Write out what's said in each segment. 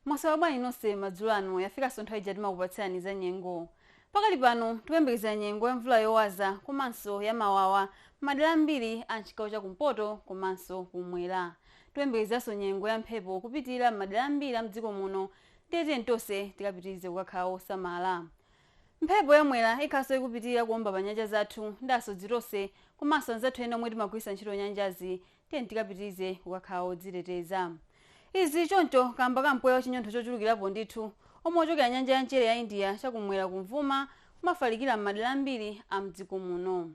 mwaswera bwanji nonse madzulo ano yafikanso nthawi ija timakupatsirani za nyengo pakali pano tikuyembekezera nyengo ya mvula yowaza komanso ya mawawa m'madera ambiri a mchigawo cha kumpoto komanso kumwera tiyembekezerenso nyengo ya mphepo kupitirira madera ambiri a mdziko muno ndiye tiyeni tonse tikapitirize kukakhala osamala Mphepo ya Mwera ikhalanso ikupitilira kuomba pa nyanja zathu ndiye asodzi tonse komanso anzathu ena omwe timagwiritsa ntchito nyanjazi tiyeni tikapitirize kukakhala odziteteza. Izi choncho kaamba ka mpweya wa chinyontho chochulukirapo ndithu omwe ukuchokera nyanja ya mchere ya India cha kumwera kumvuma kumafalikira m'madera ambiri a m'dziko muno.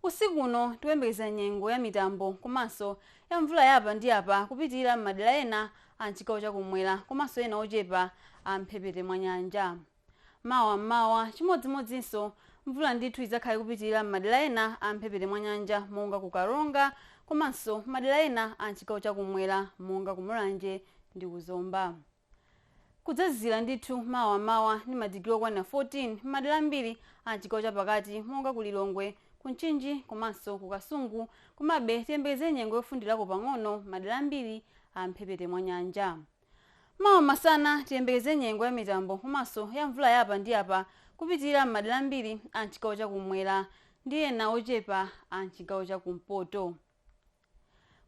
Usiku uno tikuyembekeza nyengo ya mitambo komanso ya mvula ya apa ndi apa kupitilira m'madera ena a m'chigawo cha kumwera komanso ena ochepa a m'mphepete mwa nyanja. Mawa m'mawa, chimodzimodzinso, mvula ndithu idzakhala ikupitilira m'madera ena a m'mphepete mwa nyanja monga ku Karonga komanso madera ena a m'chigawo cha kummwera monga ku Mulanje ndi ku Zomba. Kudzazizira ndithu mawa m'mawa ndi madigiri okwanira 14 m'madera ambiri a m'chigawo cha pakati monga ku Lilongwe, ku Mchinji komanso ku Kasungu komabe tiyembekezere nyengo yofundirako pang'ono m'madera ambiri a m'mphepete mwa nyanja. mawa masana tiyembekeze nyengo ya mitambo komanso ya mvula ya apa ndi apa kupitirira m'madera ambiri a mchigawo chakumwera ndi ena ochepa a mchigawo chakumpoto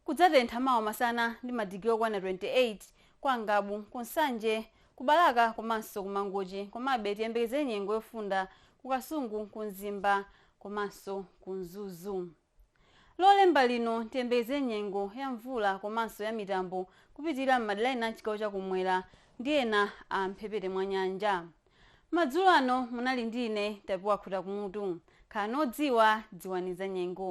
kudzatentha mawa masana ndi madigiri okwana 28 kwa ngabu ku nsanje ku balaka komanso ku mangochi komabe tiyembekeze nyengo yofunda ku kasungu ku mzimba komanso ku mzuzu Lolemba lino, tiyembekeze nyengo ya mvula komanso ya mitambo kupitilira m'madera ena a m'chigawo cha kum'mwera ndi ena a m'mphepete mwa nyanja. Madzulo ano munali ndi ine Tapiwa Khutakumutu. Khalani odziwa, dziwani zanyengo.